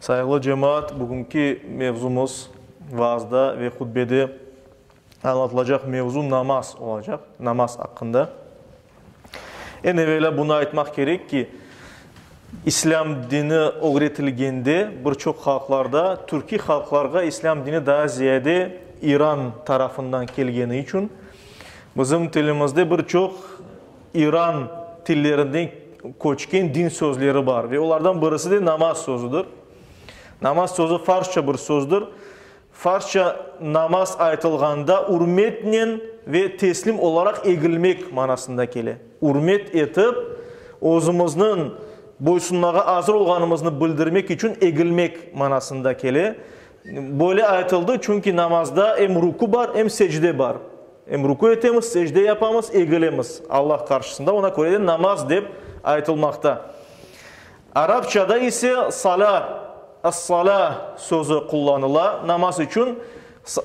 Sayıglı cemaat, bugünki mevzumız, vaazda ve hutbede añlatılacaq mevzu namaz olacaq, namaz aqqında. Eñ evelâ bunı aytmaq kerek ki, İslâm dini ögretilgende bir çoq halqlarda, türkiy halqlarğa İslâm dini daa ziyade İran tarafından kelgeni içün, bizim tilimizde bir çoq, İran tillerinden köçken din sözleri bar ve olardan birisi de namaz sözüdir. Namaz sözü farsça bir sözdür. Farsça namaz aytılğanda ürmetnen ve teslim olaraq egilmek manasında kele. Ürmet etip, özümizniñ boysunmağa azır olğanımıznı bildirmek içün egilmek manasında kele. Böyle aytıldı, çünki namazda em ruku bar, em secde bar. Em rükü etemiz, secde yapamız, egilemiz Allah qarşısında, oña köre de namaz dep aytılmaqta. Arapçada ise salâ, as-salâ, sözü qullanıla namaz içün.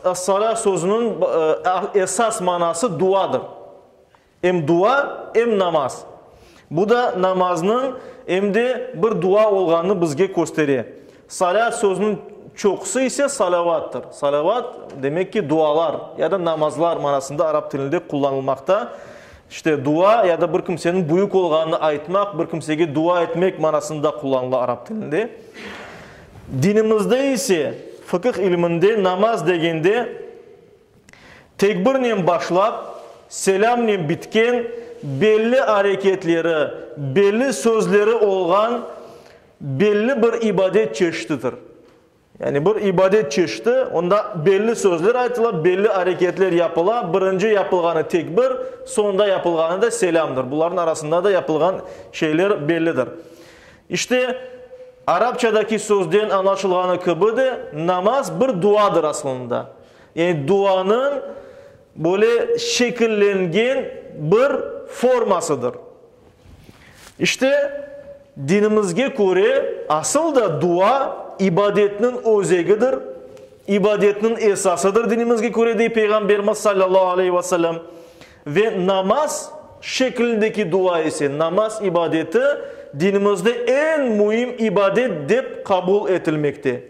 As-salâ sözüniñ esas manası duadır. Em dua, em namaz. Bu da namaznıñ, em de bir dua olğanını bizge köstere. Salât sözüniñ çoqusı ise salavâttır. Salavât, demek ki, dualar ya da namazlar manasında arap tilinde qullanılmaqta. İşte, dua ya da bir kimseniñ büyük olğanını aytmaq, bir kimsege dua etmek manasında qullanıla arap tilinde. Dinimizde ise, fıkıh ilminde namaz degende tekbirnen başlap, selâmnen bitken, belli areketleri, belli sözleri olğan Belli bir ibadet çeşitidir. Yani bir ibadet çeşiti, onda belli sözler aytıla, belli areketler yapıla, birinci yapılğanı tekbir, soñda yapılğanı da selâmdır. Bularnıñ arasında da yapılğan şeyler bellidir. İşte, arapçadaki sözden añlaşılğanı kibi de, namaz bir duadır aslında. Yani duanıñ böyle şekillengen bir formasıdır. İşte, dinimizge köre, asıl da dua ibadetniñ özegidir, ibadetniñ esasıdır dinimizge köre, dey Peyğamberimiz sallallahu aleyhi ve sellem. Ve namaz şeklindeki dua ise, namaz ibadeti dinimizde eñ müim ibadet dep qabul etilmekte.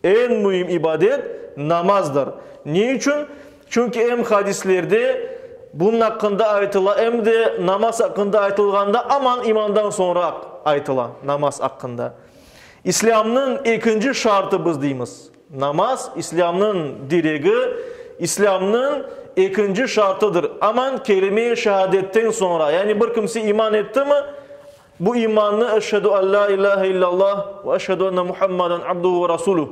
Eñ müim ibadet, namazdır. Ne içün? Çünki em hadislerde bunıñ aqqında aytıla, em de namaz aqqında aytılğanda aman imandan soñraq aytıla, namaz aqqında. İslâmnıñ ekinci şartı biz deymiz, namaz, İslâmnıñ diregi, İslâmnıñ ekinci şartıdır, aman kelime-i şehadetten soñra, yani bir kimse iman etti mi, Bu imannı Eşhedü an lâ ilâhe illâllah ve eşhedü enne Muhammaden abduhu ve rasuluh,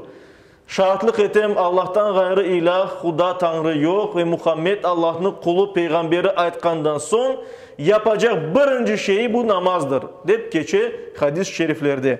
Şaatlıq etem, Allahtan ğayrı ilâh, Quda, Tañrı, yoq ve Muhammed, Allahnıñ qulu, peyğamberi aytqandan soñ yapacaq birinci şeyi bu namazdır, dep keçe hadis-şeriflerde.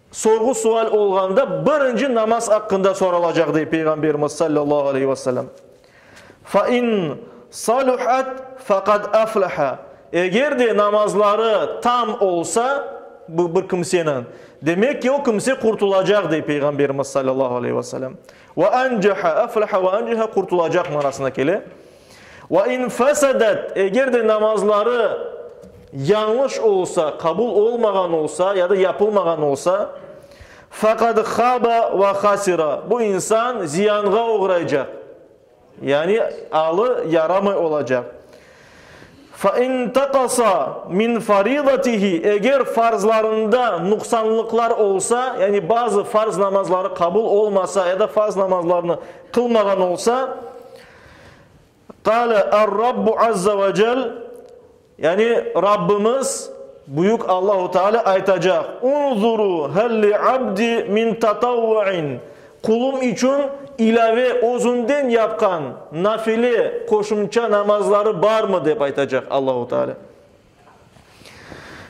Sorğu-sual olğanda birinci namaz aqqında soralacaq, dey Peyğamberimiz sallallahu aleyhi ve sellem. Fe in saluhat fe qad aflaha, eger de namazları tam olsa bu bir kimseniñ, demek ki, o kimse qurtulacaq, dey Peyğamberimiz sallallahu aleyhi ve sellem. Ve ancaha, aflaha ve ancaha, qurtulacaq manasına kele. Ve in fesedet, eger de namazları yañlış olsa, qabul olmağan olsa ya da yapılmağan olsa, fekad haba ve hasira, bu insan ziyanğa oğraycaq, yani alı yaramay olacaq. Fe in taqasa min faridatihi, eger farzlarında nuqsanlıqlar olsa, yani bazı farz namazları qabul olmasa ya da farz namazlarını qılmağan olsa, Qâle Er-Rabbu azza ve cel, yani Rabbimiz Büyük Allahu Teala aytacaq, Unzuru hel li abdi min tatavvu'in, Qulum içün ilâve, özünden yapqan, nafile, qoşumça namazları barmı? dep aytacaq Allahu Teala.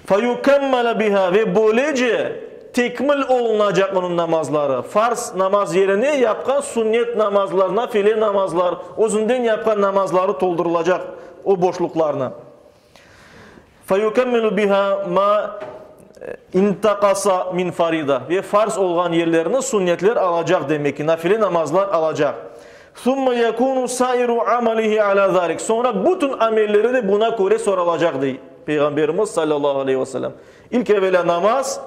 Feyukemmele biha ve böylece tekmil olunacaq onıñ namazları, farz namaz yerine yapqan sünnet namazlar, nafile namazlar, özünden yapqan namazları toldurılacaq o boşluqlarnı. Feyukemmilu biha ma intaqasa min farida ve farz olğan yerlerini sünnetler alacaq demek ki, nafile namazlar alacaq. Summa yakunu sairu amalihi ala zalik. Soñra bütün amelleri de buna köre sorulacaq, dey Peyğamberimiz sallallahu aleyhi ve sellem. İlk evelâ namaz,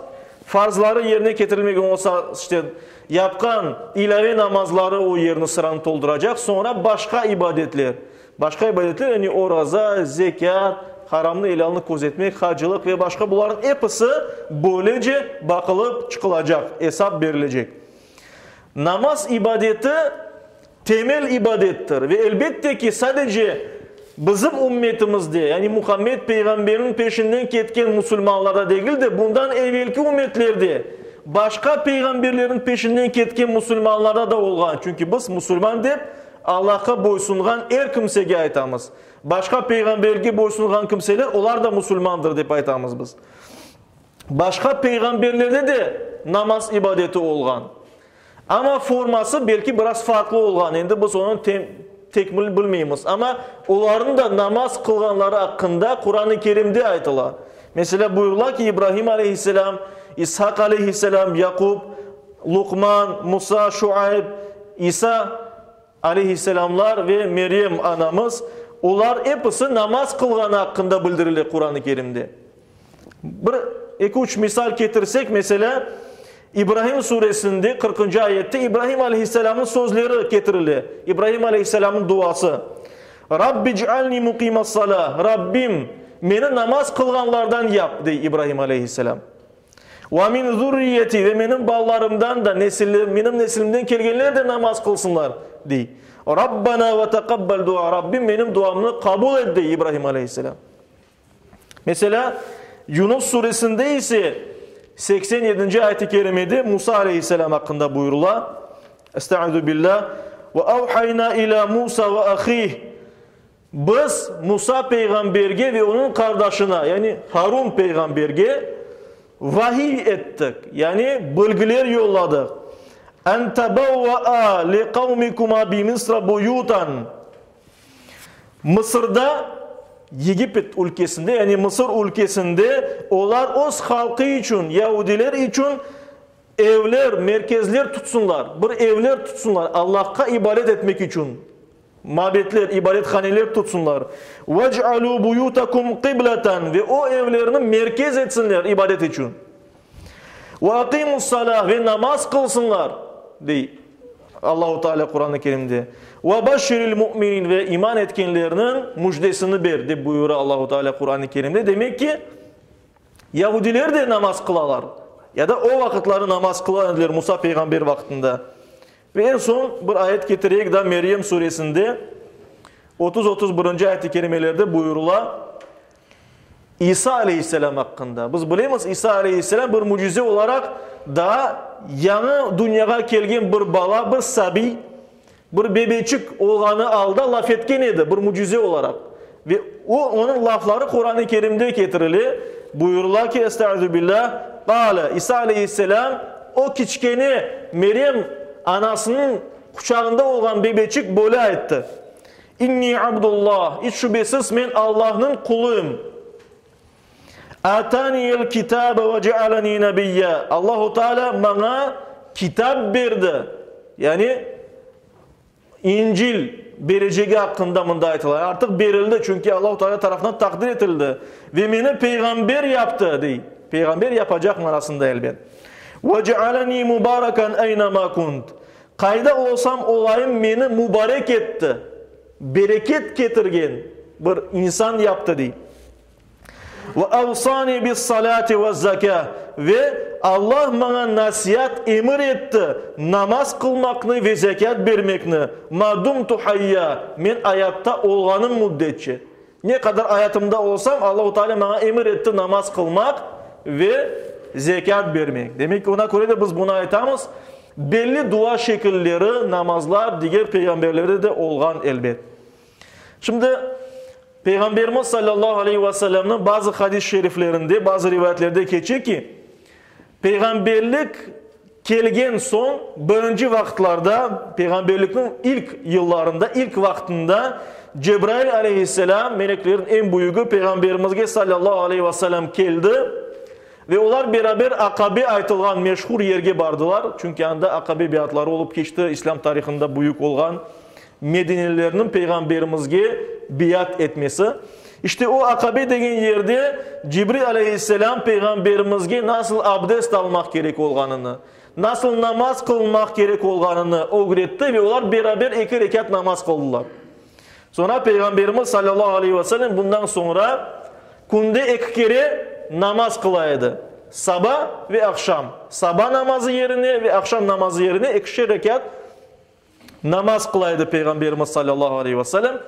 farzları yerine ketirilmegen olsa, işte, yapqan ilâve namazları o yerni, sıranı tolduracaq, soñra başqa ibadetler. Başqa ibadetler, yani oraza, zekât, haramnı, elâlnı közetmek, hacılıq ve başqa, bularnıñ episi böylece baqılıp çıqılacaq, esap berilecek. Namaz ibadeti temel ibadettir ve elbette ki, sadece bizim ümmetimizde, yani Muhammed Peyğamberniñ peşinden ketken musulmanlarda degil de, bundan evelki ümmetlerde, başqa peyğamberlerniñ peşinden ketken musulmanlarda da olğan, çünki biz musulman dep Allahqa boysunğan er kimsege aytamız. Başqa peyğamberge boysunğan kimseler, olar da musulmandır dep aytamız biz. Başqa peyğamberlerde de namaz ibadeti olğan. Amma forması belki biraz farqlı olğan, endi biz onı tem, tekmil bilmeymiz. Amma olarnıñ da namaz qılğanları aqqında Quran-ı Kerimde aytıla. Meselâ, buyurıla ki, İbrahim aleyhisselâm, İshaq aleyhisselâm, Yaqub, Luqman, Musa, Şuayb, İsa, Aleyhisselamlar ve Meryem anamız, olar episi namaz qılğanı aqqında bildirile Quran-ı Kerimde. Bir eki-üç misal ketirsek, meselâ, İbrahim suresinde qırqıncı ayette İbrahim aleyhisselamnıñ sözleri ketirile, İbrahim aleyhisselamnıñ duası, Rabbi ic'alni muqimas-salâ, Rabbim, meni namaz qılğanlardan yap, dey İbrahim aleyhisselam. Ve min zürriyeti, ve menim balalarımdan da, nesilli, menim neslimden kelgenler de namaz qılsınlar, dey. Rabbena ve teqabbel dua, Rabbim, menim duamnı qabul et, dey İbrahim aleyhisselâm. Meselâ, Yunus suresinde ise seksen yedinci ayet-i kerimede Musa aleyhisselâm aqqında buyurula, Estaizu billâh, Ve avhayna ilâ Musa ve ahih, Biz Musa peyğamberge ve onıñ qardaşına, yani Harun peyğamberge, vahiy ettik, yani bilgiler yolladıq, An tabavva'a li qavmikuma bi Misra buyutan, Mısırda, Yegipet ülkesinde, yani Mısır ülkesinde olar öz halqı içün, yahudiler içün evler, merkezler tutsınlar, bir evler tutsınlar, Allahqa ibadet etmek içün. Mabedler, ibarethaneler tutsunlar. Vec'alû buyûtekum qıbleten, ve o evlerni merkez etsinler ibadet içün. Ve aqimus-salâ, ve namaz qılsınlar, dey Allahu Teala Quran-ı Kerimde. Ve beşşiril mu'minin, ve iman etkenlerniñ müjdesini ber, dep buyura Allahu Teala Quran-ı Kerimde. Demek ki, yahudiler de namaz qılalar, ya da o vaqıtları namaz qılan ediler Musa peyğamber vaqtında. Eñ soñ bir ayet ketireyik da, Meryem suresinde otuz, otuz birinci ayet-i kerimelerde buyurula İsa aleyhisselâm aqqında. Biz bilemiz, İsa aleyhisselâm bir mücize olaraq daa yañı dünyağa kelgen bir bala, bir sabiy, bir bebeçik olğanı alda laf etken edi, bir mücize olaraq. Ve o, onıñ lafları Quran-ı Kerimde ketirile, buyurıla ki, Estağüzübilâ, Qâle, İsa aleyhisselâm, o kiçkene Meryem anasınıñ quçağında olğan bebeçik böyle ayttı, İnni Abdulla, iç şübesiz men Allahnıñ quluyım. Ataniyel kitabe ve cealeni nebiyya, Allahu Teala maña kitap berdi, yani İncil berecegi aqqında mında aytıla, artıq berildi, çünki Allahu Teala tarafından taqdir etildi, ve meni peyğamber yaptı, dey. Peyğamber yapacaq manasında, elbet. Ve cealeni mubarakan eyne ma kunt. Qayda olsam olayım, meni mubarek etti, bereket ketirgen bir insan yaptı, dey. Ve avsani bis-salâti vez-zekâ, ve Alla maña nasiat, emir etti, namaz qılmaqnı ve zekât bermekni, ma dumtu hayyâ, men ayatta olğanım müddetçe. Ne qadar ayatımda olsam, Allahu Teala maña emir etti namaz qılmaq ve zekât bermek. Demek ki, oña köre de biz bunı aytamız. Belli dua şekilleri, namazlar diger peyğamberlerde de olğan, elbet. Şimdi, Peyğamberimiz salâllahu aleyhi ve sellemniñ bazı hadis-i şeriflerinde, bazı rivayetlerde keçe ki, peyğamberlik kelgen soñ birinci vaqıtlarda, peyğamberlikniñ ilk yıllarında, ilk vaqtında Cebrail aleyhisselâm, meleklerniñ eñ büyügi, peyğamberimizge salâllahu aleyhi ve sellem keldi ve olar beraber Aqabe aytılğan meşhur yerge bardılar, çünki anda Aqabe biatları olıp keçti, İslâm tarihında büyük olğan Medinelilerniñ Peyğamberimizge beyat etmesi, işte o Aqabe degen yerde Cibril aleyhisselâm Peyğamberimizge nasıl abdest almaq kerek olğanını, nasıl namaz qılmaq kerek olğanını ögretti ve olar beraber eki rekât namaz qıldılar. Soñra Peyğamberimiz sallallahu aleyhi ve sellem bundan soñra künde eki kere namaz qıla edi, saba ve aqşam, saba namazı yerine ve aqşam namazı yerine ekişer rekât, Namaz qıla edi Peyğamberimiz salâllahu aleyh ve selem.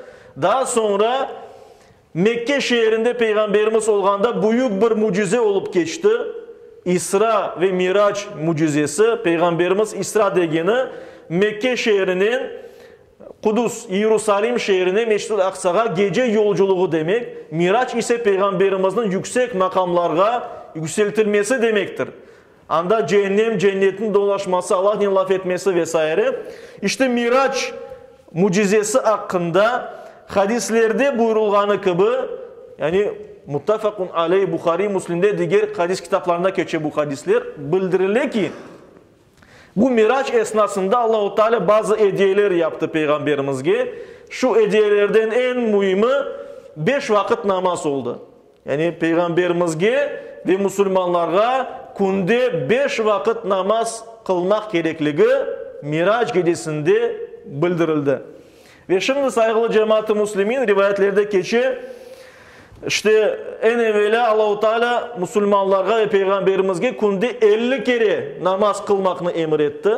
Daa soñra Mekke şeerinde Peyğamberimiz olğanda büyük bir mücize olıp keçti. İsra ve Mirac mücizesi. Peyğamberimiz İsra degeni Mekke şeerinen Qudus, İerusalim şeerine Mescid-ül Aqsağa gece yolculuğı demek, Mirac ise Peyğamberimizniñ yüksek maqamlarğa yükseltilmesi demektir. Anda ceennem, cennetniñ dolaşması, Allahnen laf etmesi ve saire. İşte Mirac mücizesi aqqında hadislerde buyurılğanı kibi, yani Muttafaqun aleyh, Buhariy, Müslimde, diger hadis kitaplarında keçe bu hadisler, bildirile ki, bu Mirac esnasında Allahu Teala bazı ediyeler yaptı Peyğamberimizge, şu ediyelerden eñ müimi, beş vaqıt namaz oldı. Yani Peyğamberimizge ve musulmanlarğa künde beş vaqıt namaz qılmaq kerekligi Mirac gecesinde bildirildi. Ve şimdi, sayğılı cemaat-ı muslimin, rivayetlerde keçe, İşte, eñ evelâ Allahu Teala musulmanlarğa ve Peyğamberimizge künde elli kere namaz qılmaqnı emir etti.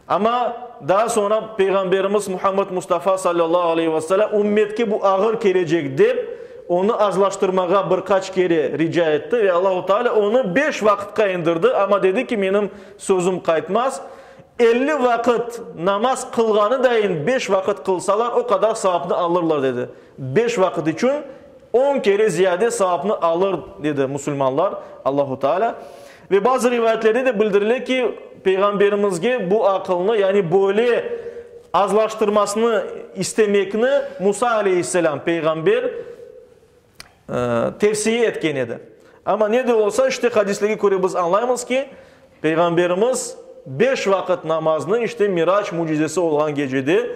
Amma daa soñra Peyğamberimiz Muhammed Mustafa salâllahu aleyhi ve selâm ümmetke bu ağır kelecek dep, onı azlaştırmağa bir qaç kere rica etti ve Allahu Teala onı beş vaqıtqa indirdi, amma dedi ki, menim sözüm qaytmaz, elli vaqıt namaz qılğanı dayin beş vaqıt qılsalar, o qadar savapnı alırlar dedi. Beş vaqıt içün on kere ziyade savapnı alır dedi musulmanlar Allahu Teala. Ve bazı rivayetlerde de bildirile ki, Peyğamberimizge bu aqılnı, yani böyle azlaştırmasını istemekni Musa aleyhisselâm, peyğamber, tevsiye etken edi. Amma ne de olsa, işte hadislerge köre biz añlaymız ki, Peyğamberimiz beş vaqıt namaznı işte Mirac mücizesi olğan gecede,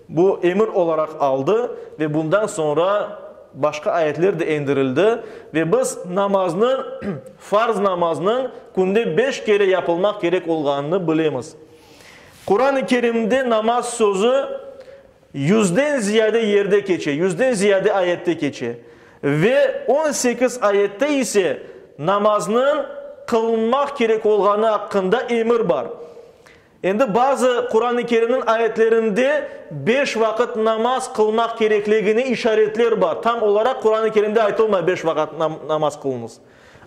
Bu emir olaraq aldı, ve bundan soñra başqa ayetler de endirildi, ve biz namaznı, farz namaznıñ künde beş kere yapılmaq kerek olğanını bilemiz. Quran-ı Kerimde namaz sözü yüzden ziyade yerde keçe, yüzden ziyade ayette keçe. Ve on sekiz ayette ise namaznıñ qılınmaq kerek olğanı aqqında emir bar. Endi bazı Quran-ı Kerimniñ ayetlerinde beş vaqıt namaz qılmaq kerekligine işaretler bar. Tam olaraq Quran-ı Kerimde aytılmay beş vaqıt namaz qılıñız.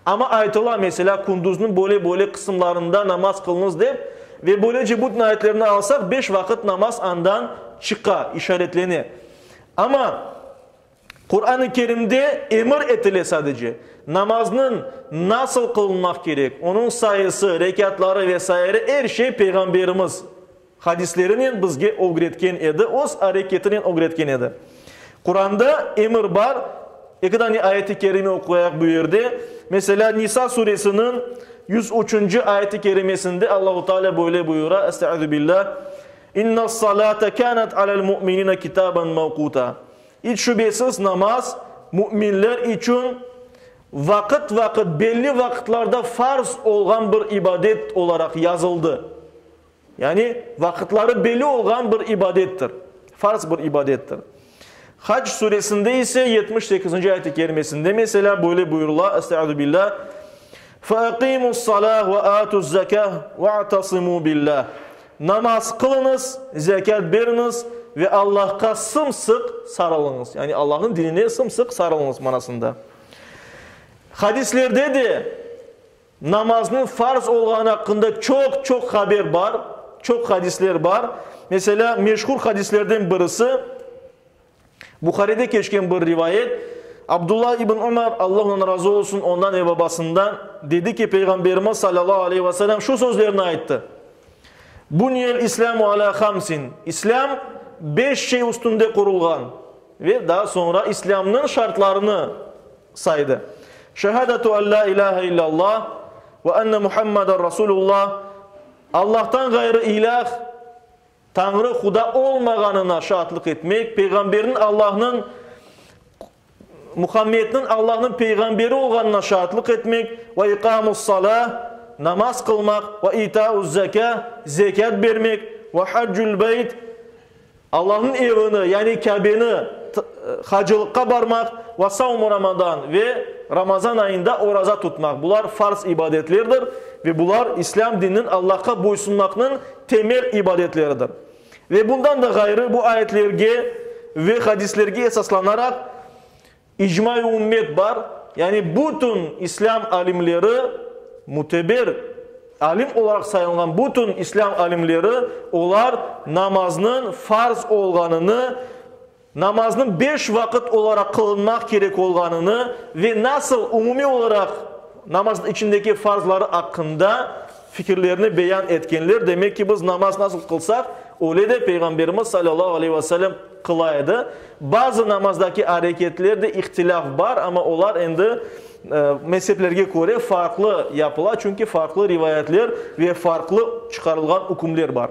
Amma aytıla, meselâ, Kunduzniñ böyle-böyle qısımlarında namaz qılıñız dep, ve böylece bütün ayetlerni alsaq, beş vaqıt namaz andan çıqa, işaretlene. Amma Quran-ı Kerimde emir etile sadece, namaznıñ nasıl qılınmaq kerek, onıñ sayısı, rekâtları ve saire er şey Peyğamberimiz hadislerinen bizge ögretken edi, öz areketinen ögretken edi. Quranda emir bar, eki dane ayet-i kerime oquyaq bu yerde. Meselâ, Nisa suresiniñ yüz üçünci ayet-i kerimesinde Allahu Teala böyle buyura, Estaizubillah, İnnas-salâte kânet alel-mu'minine kitaben mevquta, İç şübesiz, namaz, müminler içün vaqıt-vaqıt, belli vaqıtlarda farz olğan bir ibadet olaraq yazıldı. Yani, vaqıtları belli olğan bir ibadettir, farz bir ibadettir. Hac Suresinde ise yetmiş sekizinci ayet-i kerimesinde, meselâ, böyle buyurula, Estaizu billâ, Feaqimus-salâh ve atuz-zekâh ve'atasımu billâh. Namaz qılıñız, zekât beriñiz ve Allahqa sımsıq sarılıñız, yani Allahnıñ dinine sımsıq sarılıñız manasında. Hadislerde de namaznıñ farz olğanı aqqında çoq-çoq haber bar, çoq hadisler bar. Meselâ, meşhur hadislerden birisi. Buharide keçken bir rivayet, Abdullah ibn Umar, Alla ondan razı olsun, ondan ve babasından, dedi ki, Peyğamberimiz salâllahu aleyhi ve selem şu sözlerni ayttı, Buniyel İslâmu alâ hamsin, İslâm beş şey üstünde qurulğan, ve daa soñra İslâmnıñ şartlarını saydı, Şehâdatu an lâ ilâhe illâllah ve enne Muhammadan Rasulullah, Allahtan ğayrı ilâh, Tañrı Huda olmağanına şaatlıq etmek, peyğamberniñ Allahnıñ Muhammedniñ Allahnıñ peyğamberi olğanına şaatlıq etmek, ve iqâmus salâ, namaz qılmaq, ve itâuz zekâ, zekât bermek, ve haccul beyt, Allahnıñ evini, yani Kâbeni hacılıqqa barmaq, ve savmu Ramadan, ve Ramazan ayında oraza tutmaq, bular farz ibadetlerdir, ve bular İslâm dininiñ Allahqa boysunmaqnıñ temel ibadetleridir. Ve bundan da ğayrı, bu ayetlerge ve hadislerge esaslanaraq icma-i ümmet bar, yani bütün islâm alimleri, müteber alim olaraq sayılğan bütün islâm alimleri olar namaznıñ farz olğanını namaznıñ beş vaqıt olaraq qılınmaq kerek olğanını ve nasıl umumiy olaraq namaznıñ içindeki farzları aqqında fikirlerini beyan etkenler, demek ki, biz namaz nasıl qılsaq, öyle de Peyğamberimiz salâllahu aleyhi ve selem qıla edi. Bazı namazdaki areketlerde ihtilâf bar, amma olar endi mezheplerge köre farqlı yapıla, çünki farqlı rivayetler ve farqlı çıqarılğan ükümler bar.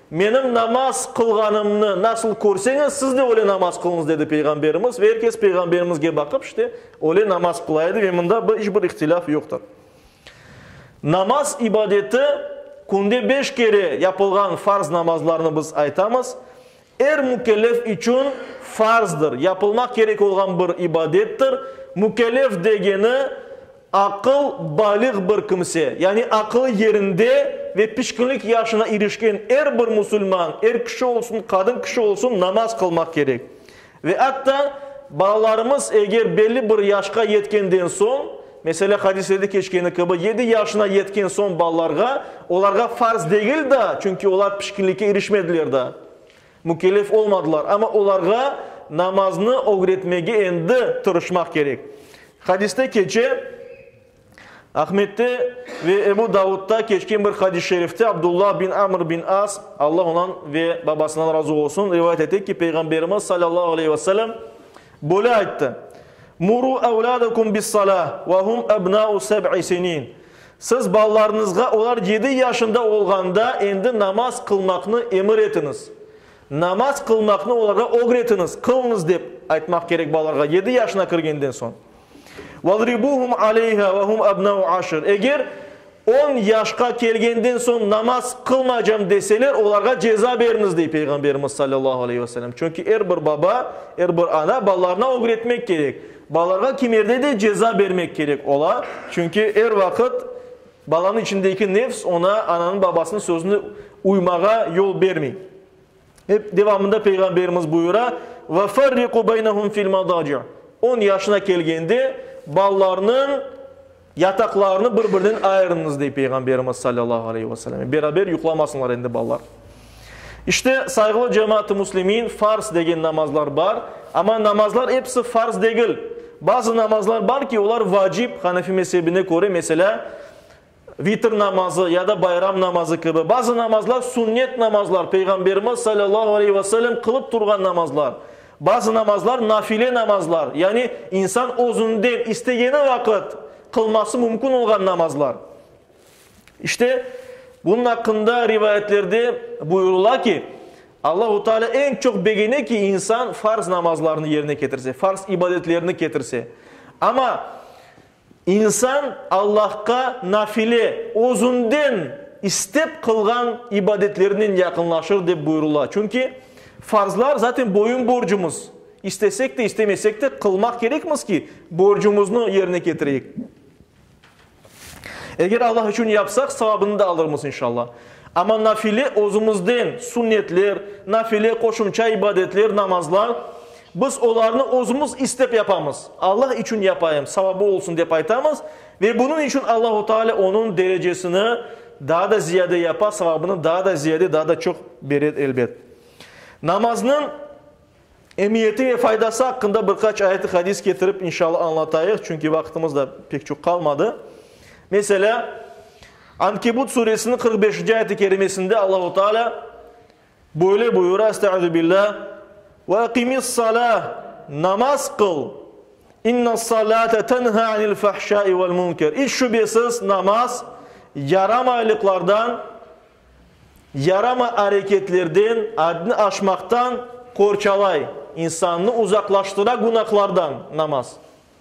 Menim namaz qılğanımnı nasıl körseñiz, siz de öyle namaz qılıñız, dedi Peyğamberimiz, ve er kes Peyğamberimizge baqıp, işte, öyle namaz qıla edi, ve mında bir, iç bir ihtilâf yoqtır. Namaz ibadeti, künde beş kere yapılğan farz namazlarnı biz aytamız, er mükellef içün farzdır, yapılmaq kerek olğan bir ibadettir, mükellef degeni, Aqıl balığ bir kimse, yani aqılı yerinde ve pişkinlik yaşına irişken er bir musulman, er kişi olsun, qadın kişi olsun, namaz qılmaq kerek. Ve atta balalarımız eger belli bir yaşqa yetkenden soñ, meselâ, hadislerde keçkeni kibi, yedi yaşına yetken soñ balalarğa, olarğa farz degil daa, çünki olar pişkinlikke irişmediler daa. Mükellef olmadılar, amma olarğa namaznı ögretmege endi tırışmaq kerek. Hadiste keçe, Ahmette ve Ebu Davudda keçken bir hadis-i şerifte Abdullah bin Amr bin As, Alla ondan ve babasından razı olsun, rivayet ete ki, Peyğamberimiz salâllahu aleyh ve selem böyle ayttı, Muru evlâdekum bis-salâh ve hum ebnâ'u seb'i sinin, Siz balalarıñızğa olar yedi yaşında olğanda endi namaz qılmaqnı emir etiñiz. Namaz qılmaqnı olarğa ögretiñiz, qılıñız dep aytmaq kerek balalarğa yedi yaşına kirgenden soñ. Vadribuhum aleyha ve hum ebnau aşr. Eger on yaşqa kelgenden soñ namaz qılmaycam deseler, olarğa ceza beriñiz, dey Peyğamberimiz sallallahu aleyhi ve sellem. Çünki er bir baba, er bir ana balalarına ögretmek kerek. Balalarğa kimerde de ceza bermek kerek ola, çünki er vaqıt balanıñ içindeki nefs oña ananıñ-babasınıñ sözüne uymağa yol bermey. Hep devamında Peyğamberimiz buyura, Ve ferriqu beynehum fil madaci', On yaşına kelgende balalarnıñ Yataqlarını bir-birinen ayırıñız, dey Peyğamberimiz salâllahu aleyhi ve selem. Beraber yuqlamasınlar endi balalar. İşte, sayğılı cemaat-ı muslimin, farz degen namazlar bar. Amma namazlar episi farz degil. Bazı namazlar bar ki, olar vacip, Hanefi mezhebine köre, meselâ, vitr namazı ya da bayram namazı kibi. Bazı namazlar sünnet namazlar, Peyğamberimiz salâllahu aleyhi ve selem qılıp turğan namazlar. Bazı namazlar nafile namazlar, yani insan özünden istegeni vaqıt qılması mümkün olğan namazlar. İşte, bunun aqqında rivayetlerde buyurıla ki, Allahu Teala eñ çoq begene ki, insan farz namazlarını yerine ketirse, farz ibadetlerini ketirse. Amma İnsan Allahqa nafile, özünden istep qılğan ibadetlerinen yaqınlaşır dep buyurıla. Çünki farzlar zaten boyun borcumuz, istesek de, istemesek de qılmaq kerekmiz ki, borcumuznı yerine ketireyik. Eger Allah içün yapsaq, savabını da alırmız, inşallah. Amma nafile, özümizden sünnetler, nafile, qoşumça ibadetler, namazlar Biz olarnı özümiz istep yapamız, Allah içün yapayım, savabı olsun dep aytamız, ve bunıñ içün Allahu Taalâ onıñ derecesini daa da ziyade yapa, savabını daa da ziyade, daa da çoq bere, elbet. Namaznıñ emiyeti ve faydası aqqında bir qaç ayet-i hadis ketirip, inşalâ, añlatayıq, çünki vaqıtımız da pek çoq qalmadı. Meselâ, Ankebut suresiniñ qırq beşinci ayet-i kerimesinde Allahu Taalâ, Böyle buyura, Estağüzübillah, Ve aqimi's-salâh, namaz qıl, İnnas-salâte tenha anil-fahşâi vel-munker, iç şübesiz, namaz, yaramaylıqlardan, yaramay areketlerden, addni aşmaqtan qorçalay, insannı uzaqlaştıra günahlardan, namaz.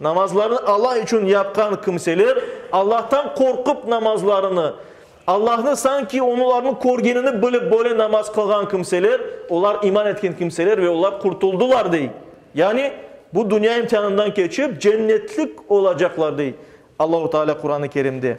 Namazlarını Allah içün yapqan kimseler Allahtan qorqup namazlarını, Allahnı sanki onularnı körgenini bilip böyle namaz qılğan kimseler, olar iman etken kimseler ve olar qurtuldılar dey. Yani bu dünya imtihanından keçip cennetlik olacaqlar dey Allahu Taalâ Quranı Kerimde.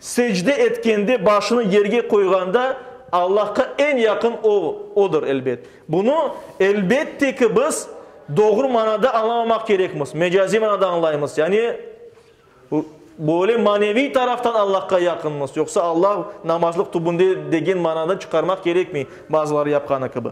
Secde etkende, başını yerge qoyğanda, Allahqa eñ yaqın o, odır, elbet. Bunı, elbette ki, biz doğru manada añlamamaq kerekmiz, mecaziy manada añlaymız, yani, böyle maneviy taraftan Allahqa yaqınmız, yoqsa Allah namazlıq tübünde degen mananı çıqarmaq kerekmey, bazıları yapqanı kibi.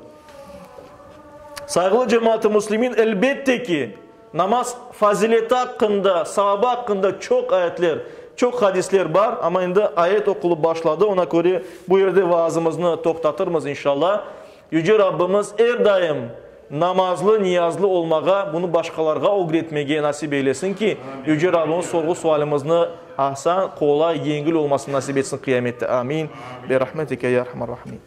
Sayğılı cemaat-i müslimin, elbette ki, Namaz fazileti aqqında, savabı aqqında çoq ayetler, çoq hadisler bar, amma endi ayet oqulıp başladı, oña köre bu yerde vaazımıznı toqtatırmız, inşalla. Yüce Rabbimiz er daim namazlı, niyazlı olmağa, bunı başqalarğa ögretmege nasip eylesin ki, Yüce Rabbimiz sorğu-sualimizni asan, qolay, yengil olmasını nasip etsin Qıyamette. Amin. Bi rahmetike ya erhamer rahimin.